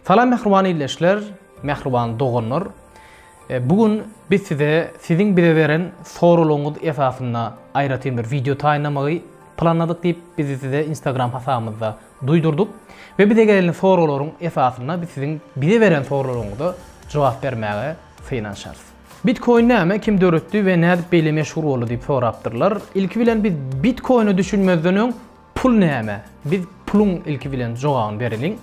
Salam mähriban ildeşler, mähriban doganlar. E, bu gün biz size siziň bize beren soraglaryňyz esasynda aýratyn bir wideo taýynlamagy planladyk diýip biz size Instagram hasabymyzda duýdurdyk we bize gelen soraglaryň esasynda biz siziň bize beren soraglaryňyza jogap bermäge synanyşarys. Bitcoin näme, kim döretdi we nädip beýle meşhur boldy diýip sorapdyrlar. Ilki bilen biz Bitcoine düşünmezden öň Pul näme? Biz puluň ilki bilen jogabyny bereliň.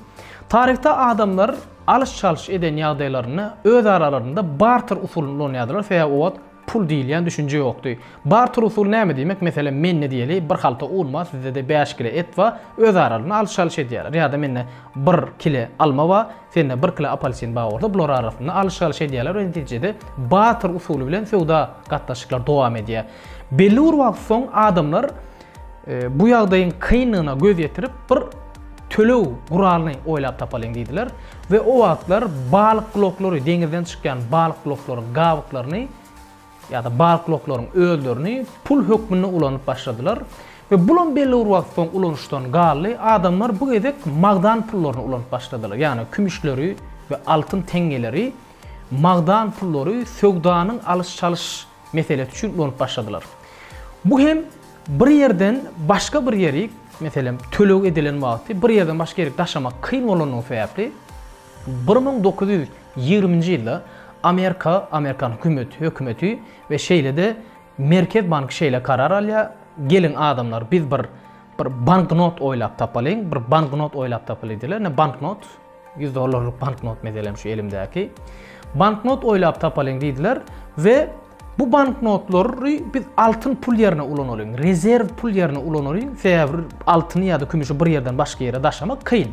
Taryhda adamlar alyş-çalyş eden ýagdaýlarynda öz aralarynda barter usulyny ulanýardylar, sebäbi o wagt pul diýilýän düşünje ýokdy. Barter usuly näme diýmek? Meselem, mende diýeli bir halta un bar, sizde-de bäş kile et bar, öz aralarynda alyş-çalyş edýärler. Ýa-da mende bir kile alma bar, sende bir kile apelsin bar bolsa, bular arasynda alyş-çalyş edýärler we netijede barter usuly bilen söwda gatnaşyklary dowam edýär. Belli bir wagt soň adamlar Bu ýagdaýyň kynlygyna göz ýetirip, bir töleg guralyny oýlap tapalyň diýdiler we o wagtlar balyk bloklary, deňizden çykýan balyk bloklaryň gabyklaryny ýa-da balyk bloklaryň özlerini pul hökmünde ulanyp başladylar we bulam belli bir wagt soň ulanyşdan galdy. Adamlar bu gezek magdan pullaryny ulanyp başladylar, ýagny kümüşleri we altyn teňňeleri magdan pullary söwdanyň alyş-çalyş meselesi üçin ulanyp başladylar. Bu hem bir ýerden başga bir ýeri, meselem, töleg edilen wagty bir ýerden başga ýeri daşamak kyn bolandygy sebäpli bir müň dokuz ýüz ýigriminji ýylda Amerika, amerikan hökümeti, hökümeti we şeýle-de Merkez banky şeýle karar alýar, geliň adamlar biz bir bir banknot oýlap tapalyň, bir banknot oýlap tapalyň diýler, ne banknot Ýüz dollarlyk banknot meselem şu elimdäki. Banknot oýlap tapalyň diýdiler we bu banknotlary biz altyn pul ýerine ulanalyň, rezerw pul ýerine ulanalyň, sebäbi altyny ýa-da kümüşi bir ýerden başga ýere daşamak kyn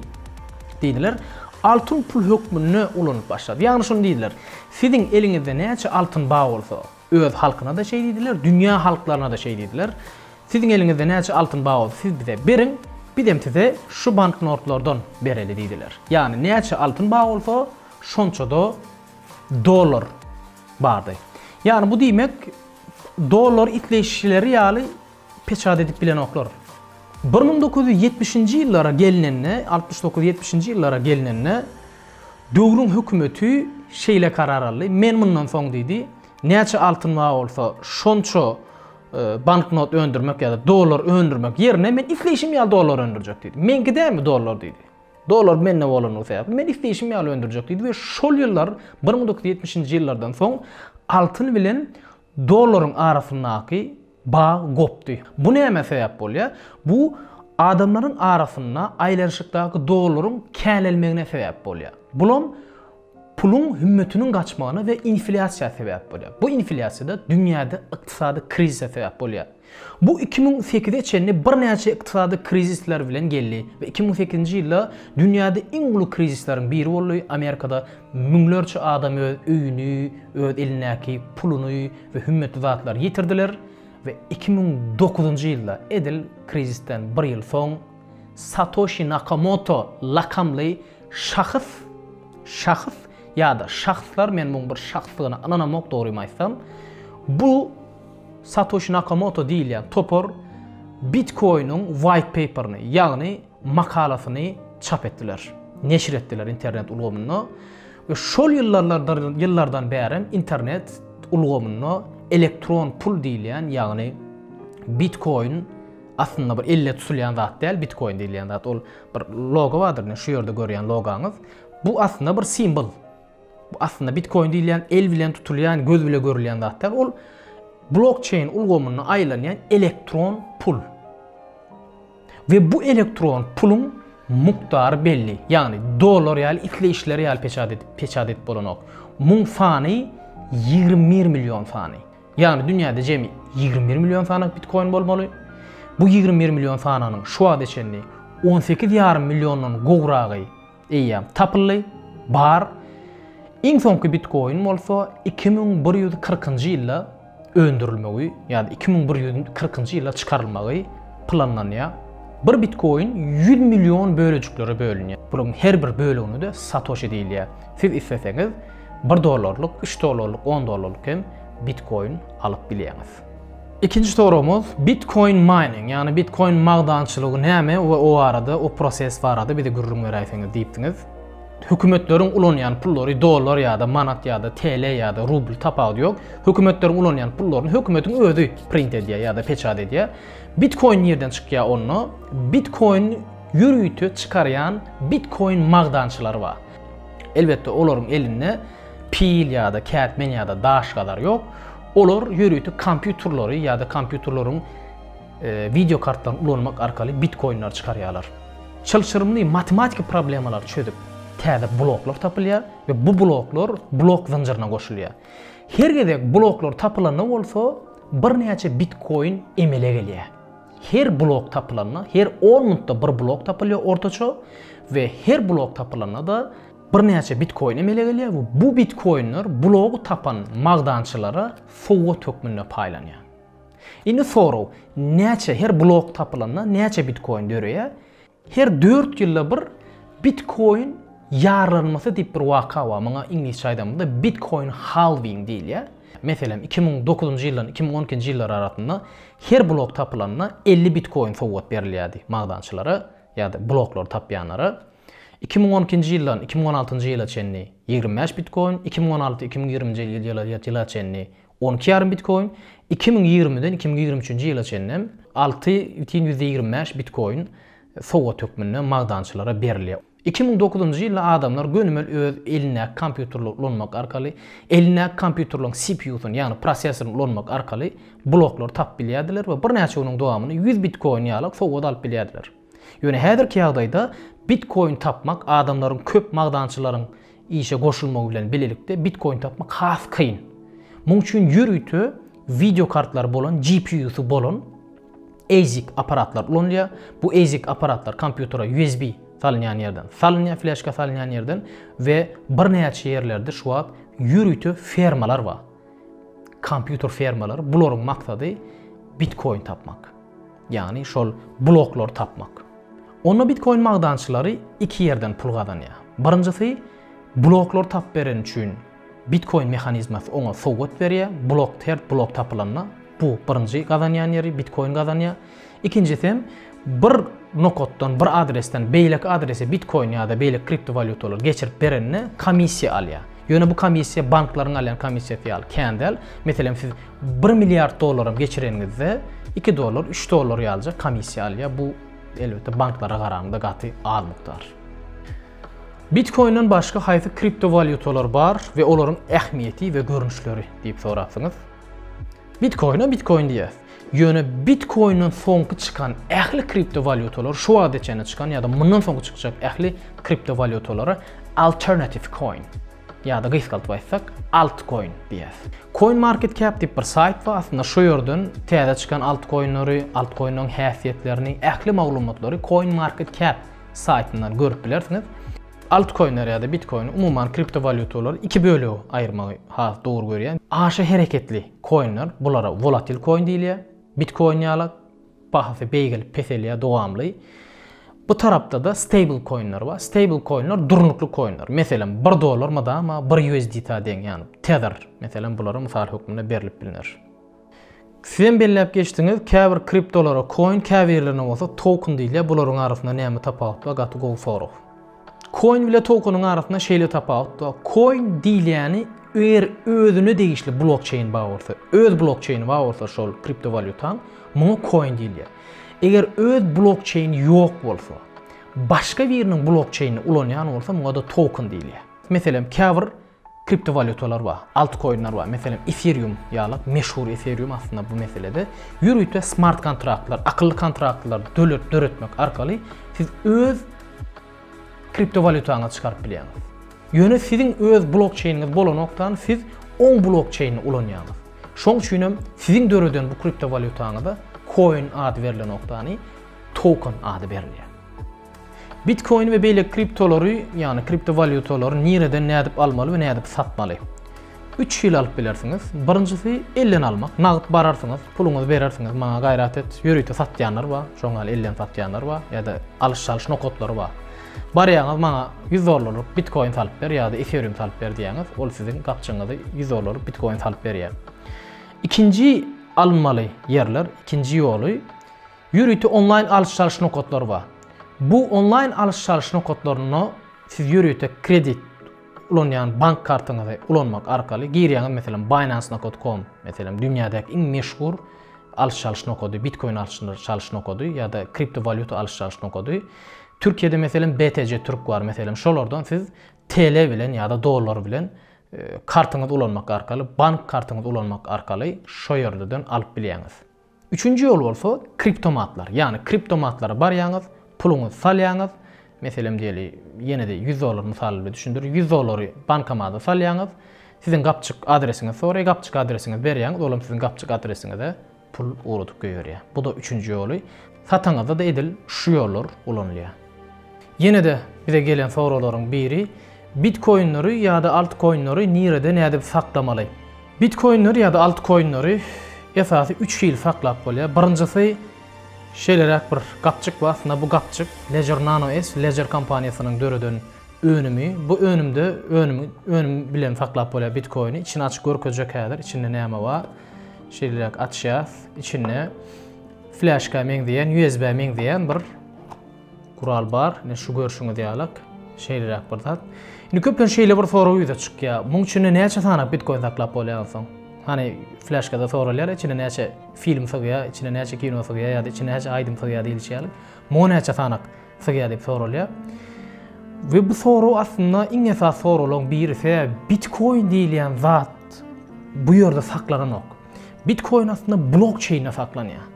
diýdiler. Altyn pul hökmünde ulanyp başlady. Ýagny şuny diýdiler, siziň eliňizde näçe altyn bar bolsa, Öz halkyna-da şeý diýdiler, dünýä halklaryna-da şeý diýdiler. Siziň eliňizde näçe altyn bar bolsa, siz bize beriň, bizem size şu banknotlardan bereli diýdiler. Ýagny näçe altyn bar bolsa, şonça-da dollar bardy. Ýagny bu diýmek, dollar isleýşleri ýaly Peçat edip bilenoklar. Bir müň dokuz ýüz ýetmişinji ýyllara gelnende, altmyş dokuz ýetmişinji ýyllara gelnende, döwrüň hökümeti şeýle karar aldy, men mundan soň diýdi, näçe altyn bar bolsa, şonça banknot öndürmek ýa-da dollar öndürmek ýerine men isleýşim ýaly dollar öndürjek diýdi. Meňki dälmi dollar diýdi. Dollar mende bolandygy sebäpli men isleýşim ýaly öndürjek diýdi we şol ýyllar bir müň dokuz ýüz ýetmişinji ýyllardan soň altyn bilen Dollaryň arasyndaky bag gopdy. Bu nämä sebäp bolýar? Bu adamlaryň arasynda aýlanyşykdaky dollaryň känelmegine sebäp bolýar. Bulam puluň hümmetiniň gaçmagyna we inflýasiýa sebäp bolýar. Bu inflýasiýa-da dünýäde ykdysady krizise sebäp bolýar. Bu iki müň sekize çenli birnäçe ykdysady krizisler bilen geldi we iki müň sekizinji ýylda dünýäde iň uly krizisleriň biri boldy, Amerikada müňlerçe adam öz öýüni, öz elindäki puluny we hümmetli zatlary ýitirdiler we iki müň dokuzynjy ýylda, edil krizisden bir ýyl soň, Satoşi Nakamoto lakamly şahs, şahs ýa-da şahslar, men muň bir şahsdygyna ynanamok dogrymy aýtsam, bu, Satoşi Nakamoto diýilýän topar Bitcoin-iň White Paper-ni, ýagny makalasyny çap etdiler, neşir etdiler internet ulgamynda we şol ýyllarlardyr ýyllardan bärem internet ulgamynda elektron pul diýilýän, ýagny Bitcoin aslynda bir elle tutulýan zat däl, Bitcoin diýilýän zat ol bir logo bardyr, şu ýerde görýän logaňyz, bu aslynda bir simbol. Bu aslynda bitkoin diýilýän el bilen tutulýan, göz bile görülýän zat däl. Ol blokçeýn ulgamynda aýlanýan elektron pul. We bu elektron puluň mukdary belli. Ýagny dollar ýaly isleýişleri ýaly peçat edip, peçat edip bolanok. Muň sany 21 million sany. Ýagny dünýäde jemi 21 million sany bitkoin bolmaly. Bu 21 million sananyň şu wagta çenli 18,5 milliondan gowragy Eýýäm tapyldy, bar. Iň soňky bitkoin bolsa iki müň bir ýüz kyrkynjy ýylda öndürilmegi, ýa-da iki müň bir ýüz kyrkynjy ýylda çykarylmagy planlanýar. Bir bitkoin ýüz million bölejiklere bölünýär. Bularyň her bir bölegine-de satoşi diýilýär. Siz isleseňiz, bir dollarlyk, üç dollarlyk, on dollarlyk hem bitkoin alyp bilýäňiz. Ikinji soragymyz Bitcoin mining ýagny Bitcoin magdançylygy näme we o barada o proses barada bize gürrüň beräýseňiz diýipsiňiz. Hökümetleriň ulanýan pullary dollar ýa-da manat ýa-da TL ýa-da rubl tapawudy ýok. Hökümetleriň ulanýan pullaryny hökümetiň özi print edýär ýa-da peçat edýär. Bitcoin nirden çykýar onda? Bitcoin ýörite çykarýan Bitcoin magdançylary bar. Elbetde olaryň elinde pil ýa-da kätmen ýa-da daş gazar ýok. Olar ýörite kompýuterleri ýa-da kompýuterleriň wideo kartlaryny ulanmak arkaly bitkoinleri çykarýarlar. Çylşyrymly matematiki problemalary çözüp täze bloklar tapylýar we bu bloklar blok zynjyryna goşulýar. Her gezek bloklar tapylanda bolsa birnäçe bitkoin emele gelýär. Her blok tapylanda, her on minutda bir blok tapylýar ortaça we her blok tapylanda-da birnäçe bitkoin emele gelýär we bu bitkoinler blogy tapan magdançylara sowgat hökmünde paýlanýar. Indi sorag, näçe, her blok tapylanda näçe bitkoin döreýär? Her dört ýylda bir Bitkoin ýarlanmasy diýip bir waka bar. Muňa iňlisçe aýdamyzda Bitkoin Halving diýilýär. Meselem, iki müň dokuzynjy ýyldan iki müň on ikinji ýyllar arasynda her blok tapylanda elli Bitkoin sowgat berilýärdi magdançylara ýa-da bloklary tapýanlara. Iki müň on ikinji ýyldan iki müň on altynjy ýyla çenli ýigrimi bäş Bitkoin, iki müň on alty iki müň ýigrimi nji ýyla çenli On iki ýarym bitkoin iki müň ýigrimiden iki müň ýigrimi üçünji ýyla çenli alty bütin ýüzde ýigrimi bäş bitkoin sowgat hökmünde magdançylara berilýär. Iki müň dokuzynjy ýylda adamlar gönümel öz elindäki kompýuterleri ulanmak arkaly, elindäki kompýuterleriň CPU-syny, ýagny prosessoryny ulanmak arkaly bloklary tapyp bilýärdiler we birnäçe günüň dowamynda ýüz bitkoin ýalak sowgat alyp bilýärdiler. Ýöne häzirki ýagdaýda bitkoin tapmak adamlaryň köp magdançylaryň işe goşulmagy bilen bilelikde bitkoin tapmak has kyn. Muň üçin ýörite wideo kartlary bolan GPU-sy bolan ASIC apparatlar ulanylýar. Bu ASIC apparatlar kompýutere USB salynýan ýerden salynýar, fleşka salynýan ýerden we birnäçe ýerlerde şu wagt ýörite fermalar bar. Kompýuter fermalary bularyň maksady bitkoin tapmak. Ýagny şol bloklary tapmak. Onda bitkoin magdançylary iki ýerden pul gazanýar. Birinjisi bloklary tapyp bereni üçin bitkoin mehanizmasy oňa sowgat berýär. Blok her blok tapylanda bu birinji gazanýan ýeri bitkoin gazanýar. Ikinjisi hem bir nokatdan bir adresden beýleki adrese bitkoin ýa-da beýleki kriptowalýutalary geçirip berende komissiýa alýar. Ýöne bu komissiýa banklaryň alýan komissiýasy ýaly kän däl. Meselem siz Bir milliard dollaram geçireniňizde iki dollar, üç dollar ýalyja komissiýa alýar. Bu elbetde banklara garanda gaty az mukdar. Bitcoin'den başga haýsy kriptowalyutalar bar we olaryň ähmiýeti we görnüşleri diýip sorapsyňyz. Bitcoin'e Bitcoin diýýär. Ýöne Bitcoin'den soňky çykan ähli kriptowalyutalar şu wagtda çenli çykan ýa-da mundan soňky çykjak ähli kriptowalyutalara alternative coin Ýa-da gysgaldyp aýtsak, Altcoin diýýäs. CoinMarketCap diýip bir saýt bar, aslynda şu ýerden täze çykan altkoinleri, altkoinleriň häsiýetlerini, ähli maglumatlary CoinMarketCap saýtyndan görüp bilersiňiz. Altkoinleri ýa-da bitkoini, umuman kriptowalýutalary iki bölege aýyrmagy has dogry görýän. Aşa hereketli koinler, bulara volatil koin diýilýär, bitkoin ýalak. bahasy beýgelip peselýär dowamly. Bu tarapda-da stable koinler bar. Stable koinler durnukly koinler. Meselem, 1 dollar mydama 1 USDT-a deň, ýagny Tether, meselem, bulara mysal hökmünde berlip bilner. Sizem belläp geçdiňiz, käbir kriptolara koin, käbirlerine bolsa token diýilýär. Bularyň arasynda näme tapawut bar? Gaty gowy sorag. Coin bile tokeniň arasynda şeýle tapawut bar. Coin diýilýäni eger özüne degişli blokçeýn bar bolsa, öz blokçeýni bar bolsa şol kriptowalýutaň, muňa coin diýilýär. Eger öz blokçeýni ýok bolsa, başga biriniň blokçeýnini ulanýan bolsa, muňa-da token diýilýär. Meselem, käbir Kriptowalýutalar bar, altkoinler bar. Meselem, Ethereum ýaly, meşhur Ethereum aslynda bu meselede ýörite smart kontraktlar, akylly kontraktlar döretmek arkaly siz öz kriptowalýutaňyzy çykaryp bilýäňiz. Ýöne siziň öz blokçeýniňiz bolanokdan siz oň blokçeýnini ulanýaňyz. Şoň üçin hem siziň döreden bu kriptowalýutaňyza koin ady berlenokdany token ady berilýär. Bitkoin we beýleki kriptolary, ýagny kriptowalýutalary nireden nädip almaly we nädip satmaly? Üç hili alyp bilersiňiz. Birinjisi elden almak. Nagt bararsyňyz, puluňyzy berersiňiz, maňa gaýrat et. Ýörite satýanlar bar, şoň ýaly elden satýanlar bar ýa-da alyş-çalyş nokatlary bar. Barýaňyz, maňa 100 dollarlyk bitkoin salyp ber ýa-da ethereum salyp ber diýýäňiz, ol siziň gapjygyňyzy 100 dollarlyk bitkoin salyp berýär. Ikinji alynmaly ýerler, ikinji ýoly Ýörite onlaýn alyş-çalyş nokatlary bar. Bu onlaýn alyş-çalyş nokatlarynda siz ýörite kredit ulanýan bank kartyňyzy ulanmak arkaly girýäňiz, meselem, Binance-nokot-com, meselem, dünýädäki iň meşhur alyş-çalyş nokady, bitkoin alyş-çalyş nokady ýa-da kriptowalýuta alyş-çalyş nokady. Türkiýede, meselem, BTC Türk bar, meselem, şolardan siz TL bilen ýa-da dollar bilen kartyňyzy ulanmak arkaly, bank kartyňyzy ulanmak arkaly şo ýerlerden alyp bilýäňiz. Üçünji ýol bolsa kriptomatlar. Ýagny kriptomatlara barýaňyz, puluňyzy salýaňyz, meselem diýeli, ýene-de ýüz dollar mysaly bilen düşündirin, ýüz dollary bankomada salýaňyz, siziň gapjyk adresiňizi soraýar, gapjyk adresiňizi berýäňiz, olam siziň gapjyk adresiňize pul ugradyp goýberýär. Bu-da üçünji ýoly. Satyňyzda-da edil şu ýollar ulanylýar. Ýene-de bize gelen soraglaryň biri, Bitkoinleri ýa-da altkoinleri nirede nädip saklamaly? Bitkoinleri ýa-da altkoinleri esasy üç hili saklap bolýar. Birinjisi şeýleräk bir gapjyk bar. Aslynda bu gapjyk Ledger Nano S, Ledger kompaniýasynyň döreden önümi. Bu önümde önüm bilen saklap bolýar bitkoini. Içini açyp görkezjek häzir, içinde näme bar. Şeýleräk açýas. Içinde flaşka meňzeýän, USB meňzeýän bir gural bar. Ne şu görşüňiz ýalak. Şeýleräk bir zat. Indi köpden şeýle bir sorag ýüze çykýar. Muň içinde näçe sanap bitcoin saklap bolýar soň? Hani flaşkada soralýar, içinde näçe film sygýar, içinde näçe kino sygýar ýa-da içinde näçe aýdym sygýar diýilişýär. Muňa näçe sanak? Sygýar diýip soralýar. We bu sorag aslynda iň esas soraglaryň biri. Sebäbi bitkoin diýilýän zat bu ýerde saklanan Bitkoin aslynda blokçeýnde saklanýar.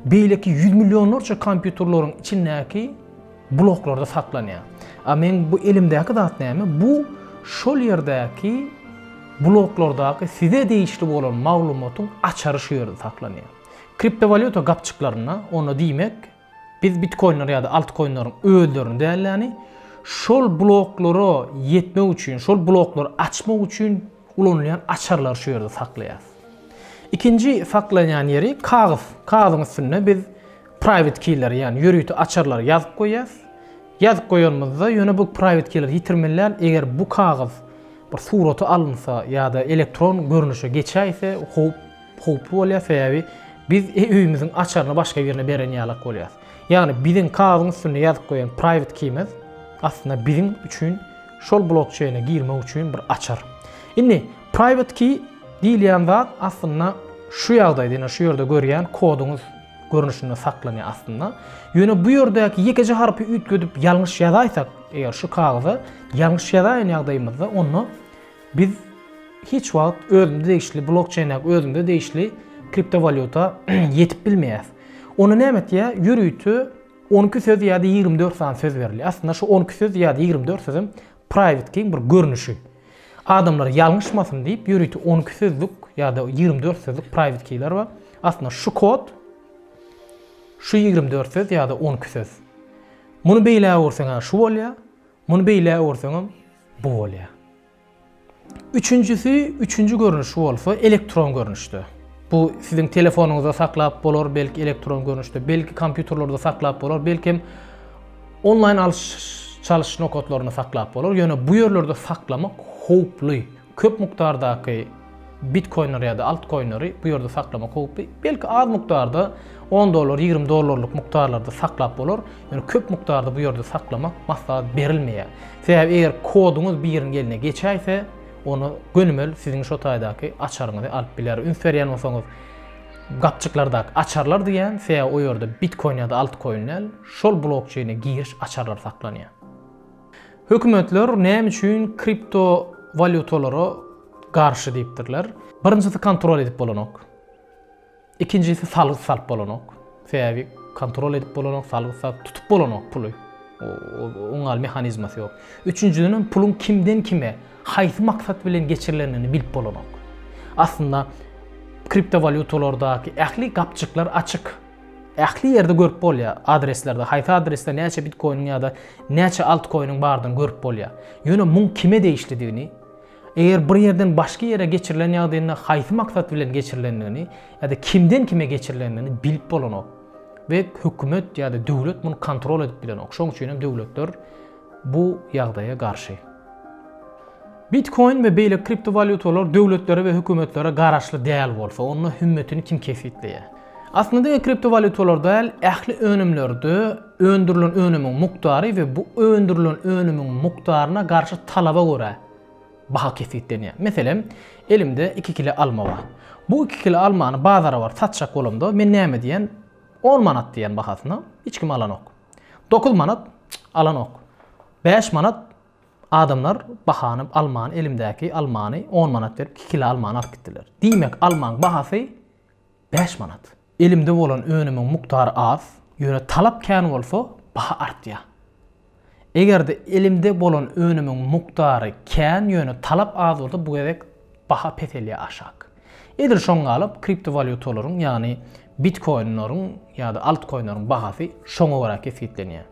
Beýleki ýüz millionlarça kompýuterleriň içindäki bloklarda saklanýar. A meň bu elimdäki zat näme? Bu şol ýerdäki bloklardaky size degişli bolan maglumatyň açary şu ýerde saklanýar. Kriptowalýuta gapjyklarynda, onda diýmek, Biz bitkoinler ýa-da altkoinleriň özlerini däl-de, şol bloklara ýetmek üçin, şol bloklary açmak üçin ulanylýan açarlary şu ýerde saklaýarys. Ikinji saklanýan ýeri kagyz. Kagyzyň üstünde biz private key-leri, ýagny ýörite açarlary ýazyp goýýarys. Ýazyp goýanymyzda ýöne bu private key-leri ýitirmeli däl, eger bu kagyz bir surata alynsa ýa-da elektron görnüşe geçäýse howp Howply bolýar sebäbi biz öýümiziň açaryny başga birine beren ýalak bolýas. Ýagny biziň kagyzyň üstünde ýazyp goýan private key-miz aslynda biziň üçin şol blokçeýne girmek üçin bir açar. Indi private key diýilýän zat aslynda şu ýagdaýda ýene şu ýerde görýän koduňyz görnüşinde saklanýar aslynda. Ýöne bu ýerdäki ýekeje harpy üýtgedip ýalňyş ýazaýsak eger şu kagyza ýalňyş ýazaýan ýagdaýymyzda onda Biz hiç wagt özümize degişli blokçeýn ýa özümize degişli kriptowalýuta ýetip bilmeýäs. Ony näme etýär? Ýörite on iki söz ýa-da ýigrimi dört sany söz berilýär. Aslynda şu on iki söz ýa-da ýigrimi dört sözem private keyň bir görnüşi. Adamlar ýalňyşmasyn diýip ýörite on iki sözlük ýa-da ýigrimi dört sözlük private keyler bar. Aslynda şu kod şu ýigrimi dört söz ýa-da on iki söz. Muny beýlägursaň şu bolýar. Muny beýle öwürseňem bu bolýar. Üçünjisi, üçünji görnüşi bolsa elektron görnüşde. Bu siziň telefonyňyzda saklap bolar, belki elektron görnüşde, belki kompýuterlerde saklap bolar, belki hem onlaýn alyş çalyş nokatlarynda saklap bolar, ýöne bu ýerlerde saklamak howply. Köp mukdardaky bitkoinleri ýa-da altkoinleri bu ýerde saklamak howply. Belki az mukdarda on dollar, ýigrimi dollarlyk mukdarlarda saklap bolar, ýöne köp mukdarda bu ýerde saklamak maslahat berilmeýär. Sebäbi eger koduňyz biriň eline geçäýse, ony gönümel siziň şo taýdaky açaryňyzy alyp biler. Üns berýän bolsaňyz, gapjyklardaky açarlar diýýän, sebäbi o ýerde bitkoin ýa-da altkoin däl, şol blokçeýne giriş açarlary saklanýar. Hökümetler näme üçin kripto walýutalara garşy diýipdirler? Birinjisi kontrol edip bolanok. Ikinjisi salgyt salyp bolanok. Sebäbi kontrol edip bolanok, salgyt salyp tutup bolanok puly. Oň ýaly mehanizmasy ýok. Üçünjiden hem puluň kimden kime, haýsy maksat bilen geçirilendigini bilip bolanok. Aslynda kripto walýutalardaky ähli gapjyklar açyk. Ähli ýerde görüp bolýar adreslerde haýsy adresde näçe bitkoiniň ýa-da näçe altkoiniň bardygyny görüp bolýar. Ýöne muň kime degişlidigini, eger bir ýerden başga ýere geçirilen ýagdaýynda haýsy maksat bilen geçirilendigini ýa-da kimden kime geçirilendigini bilip bolanok we hökümet ýa-da döwlet muny kontrol edip bilenok. Şoň üçin hem döwletler Bu ýagdaýa garşy. Bitkoin we beýleki kriptowalýutalar döwletlere we hökümetlere garaşly däl bolsa, onda hümmetini kim kesgitleýär? Aslynda diňe kriptowalýutalar däl, ähli önümlerde öndürilen önümiň mukdary we bu öndürilen önümiň mukdaryna garşy talaba görä baha kesgitlenýär. Meselem, elimde iki kile alma bar. Bu iki kile almany bazara baryp satjak bolamda, men näme diýen? On manat diýen bahasyna. Hiç kim alanok. Dokuz manat alanok. Bäş manat adamlar bahany almany elimdäki almany on manat berip iki kilo almany alyp gitdiler. Diýmek almaň bahasy bäş manat. Elimde bolan önümiň mukdary az, ýöne talap kän bolsa baha artýar. Egerde elimde bolan önümiň mukdary kän ýöne talap az bolsa bu gezek baha peselýär aşak. Edil şoň galyp kriptowalýutalaryň ýagny bitkoinleriň ýa-da altkoinleriň bahasy şoňa görä kesgitlenýär.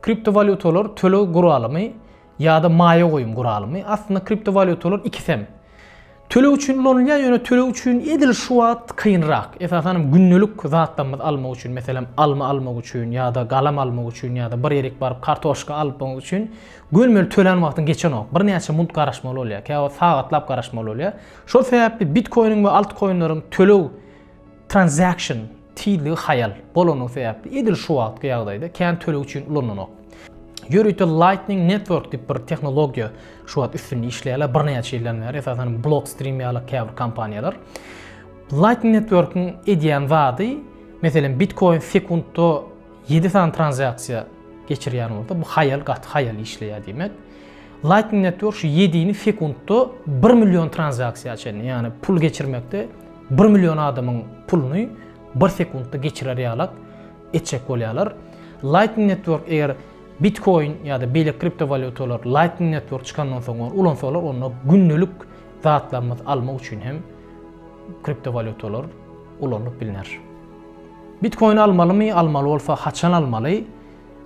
Kriptowalýutalar töleg guralymy ýa-da maýa goýum guralymy? Aslynda kriptowalýutalar ikisem. Töleg üçin ulanylýar ýöne töleg üçin edil şu wagt kynrak. Esasan hem gündelik zatlarymyzy almak üçin meselem alma almak üçin ýa-da galam almak üçin ýa-da bir ýerik baryp kartoşka alpmak üçin gönmeli tölän wagtyň geçenok. Birnäçe munt garaşmaly bolýar. Käwagt sagatlap garaşmaly bolýar. Şol sebäpli bitkoiniň we altkoinleriň töleg, transaction, tizligi haýal bolany sebäpli edil şu wagtky ýagdaýda kän töleg üçin ulanlanok. Ýörite Lightning Network diýip bir tehnologiýa şu wagt üstünde işleýärler birnäçe ýyldan bäri esasan Blockstream ýaly käbir kompaniýalar. Lightning Network-iň edýän zady meselem bitkoin sekuntda ýedi sany transaksiýa geçirýän bolsa bu haýal gaty haýal işleýär diýmek. Lightning Network şu ýedini sekuntda bir million tranzaksiýa çenli, ýagny pul geçirmekde bir million adamyň puluny bir sekuntda geçirer ýalak etjek bolýarlar. Lightning Network eger Bitcoin ýa-da beýleki kriptowalýutalar Lightning Network çykandan soň ony ulansalar, onda gündelik zatlarymyzy almak üçin hem kriptowalýutalar ulanylyp bilner. Bitcoin almalymy, almaly bolsa haçan almaly?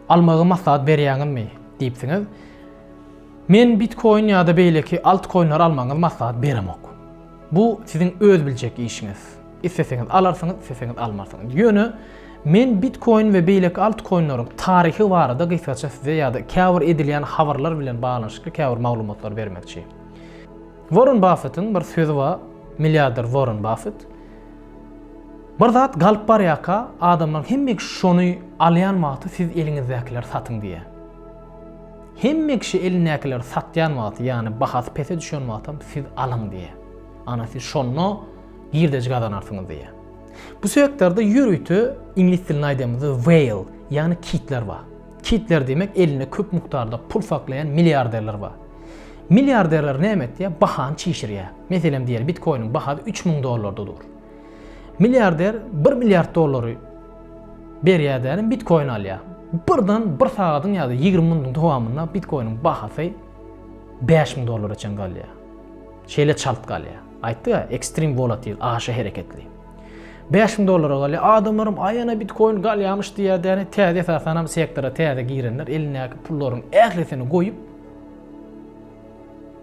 Almagy maslahat berýäňizmi? diýipsiňiz. Men bitkoin ýa-da beýleki altkoinleri almagyňyzy maslahat beremok. Bu siziň öz biljek işiňiz. Isleseňiz alarsyňyz, isleseňiz almarsyňyz. Ýöne men bitkoin we beýleki altkoinleriň taryhy barada gysgaça size ýa-da käbir edilýän habarlar bilen baglanyşykly käbir maglumatlary bermekçi. Warren Baffetiň bir sözi bar, milliarder Warren Baffet. Bir zat galyp barýarka adamlaryň hemme kişi şony alýan wagty siz eliňizdäkileri satyň diýýär. Hemme kişi elindäkileri satýan wagty ýagny bahasy pese düşen wagtam siz alyň diýýär. Ana siz şonda girdeji gazanarsyňyz diýýär. Bu sektorda ýörite iňlis dilinde aýdamyzda whale ýagny kitler bar. Kitler diýmek elinde köp mukdarda pul saklaýan milliarderler bar. Milliarderler näme etýär? Bahany çişirýär. Meselem diýeli bitkoiniň bahasy üç müň dollarda dur. Milliarder bir milliard dollary berýär dälim bitkoin alýar. Birden bir sagadyň ýa-da ýigrimi minutyň dowamynda bitkoiniň bahasy bäş müň dollara çen galýar. Şeýle çalt galýar. Aýtdy-a, ekstrem volatil, aşa hereketli. Bäş müň dollara galýar. Adamlaram aýana bitkoin galýamyş diýýär däne, täze esasanam sektora täze girenler elindäki pullaryň ählisini goýup,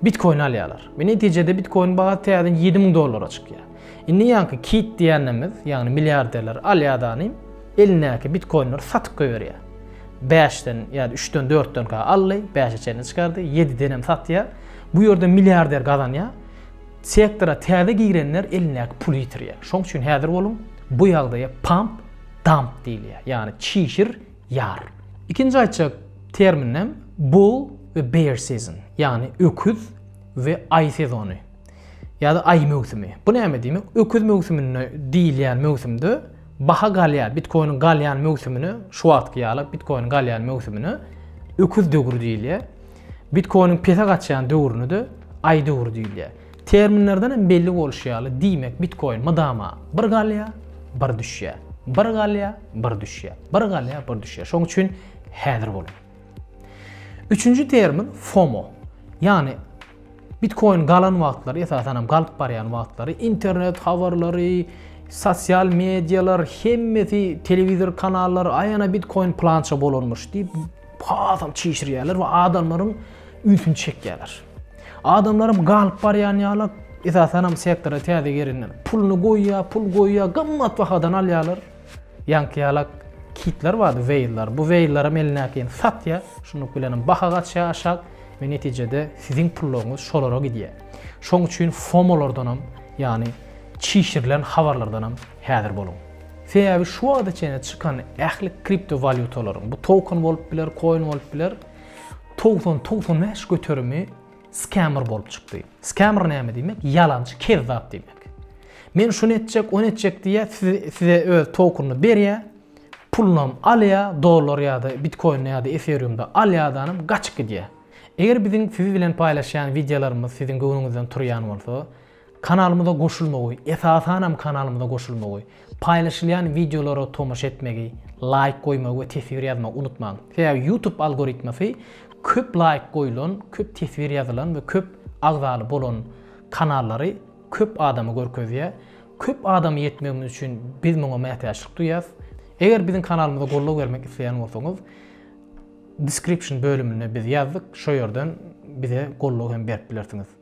Bitkoin alýarlar. We netijede bitkoiniň bahasy täzeden ýedi müň dollara çykýar. Indi ýaňky kit diýýänimiz, ýagny milliarderler alýadanym elindäki bitkoinleri satyp goýberýär. Bäşden ýa-da üçden, dörtden ka aldy, bäşe çenli çykardy, ýedidenem satýar. Bu ýerde milliarder gazanýar. Sektora täze girenler elindäki puly ýitirýär. Şoň üçin häzir boluň, bu ýagdaýa pump, dump diýilýär. Ýagny çişir, Ýar. Ikinji aýtjak terminim Bull we Bear Season, ýagny öküz we aý sezony ýa-da aý möwsümi. Bu näme diýmek? Öküz möwsüminde diýilýän möwsümde baha galýar, bitkoiniň galýan möwsümine, şu wagtky ýaly bitkoiniň galýan möwsümine öküz döwri diýilýär. Bitkoiniň pese gaçýan döwrüne-de aý döwri diýilýär. Terminlerden hem belli bolşy ýaly, diýmek, bitkoin mydama bir galýar, bir düşýär, bir galýar, bir düşýär, bir galýar, bir düşýär. Şonuň üçin häzir boluň. Üçünji termin FOMO. Ýagny Bitcoin galan wagtlary, esasan hem galyp barýan wagtlary internet habarlary, sosial medialar, hemmesi telewizor kanallary aýana Bitcoin plança bolanmyş diýip hasam çişirýärler we adamlaryň ünsüni çekýärler. Adamlaram galyp barýan ýaly, esasanam sektora täze gelenler. Puluny goýýar, pul goýýar, gymmat bahadan alýarlar. Ýaňky ýalak kitler bardy, weýllar. Bu weýllaram elindäkini satýar. Şunluk bilenem baha gaçýar aşak we netijede siziň pullaryňyz şolara gidýär. Şoň üçin FOMO-lardanam, ýagny çişirilen habarlardanam Häzir boluň. Sebäbi şu wagta çenli çykan ähli kripto walýutalaryň, bu token bolup biler, koin bolup biler, togsan, togsan bäş göterimi skämer bolup çykdy. Skämer näme diýmek? Ýalançy, kezzap diýmek. Men şuny etjek, ony etjek diýýär, size, size öz tokenyny berýär, pulunam alýar, dollar ýa-da bitkoinde ýa-da eferiumda alýardanam gaçyp gidýär. Eger biziň siz bilen paýlaşýan wideolarymyz siziň göwnüňizden turýan bolsa, Kanalymyza goşulmagy, esasanam kanalymyza goşulmagy, paýlaşylýan wideolara tomaşa etmegi, laýk goýmagy we teswir ýazmagy unutmaň. Sebäbi YouTube algoritmasy köp laýk goýulan, köp teswir ýazylan we köp agzaly bolan kanallary köp adama görkezýär. Köp adama ýetmegimiz üçin biz muňa mätäçlik duýýas. Eger biziň kanalymyza goldaw bermek isleýän bolsaňyz, description bölümine biz ýazdyk, şo ýerden bize goldaw hem berip bilersiňiz.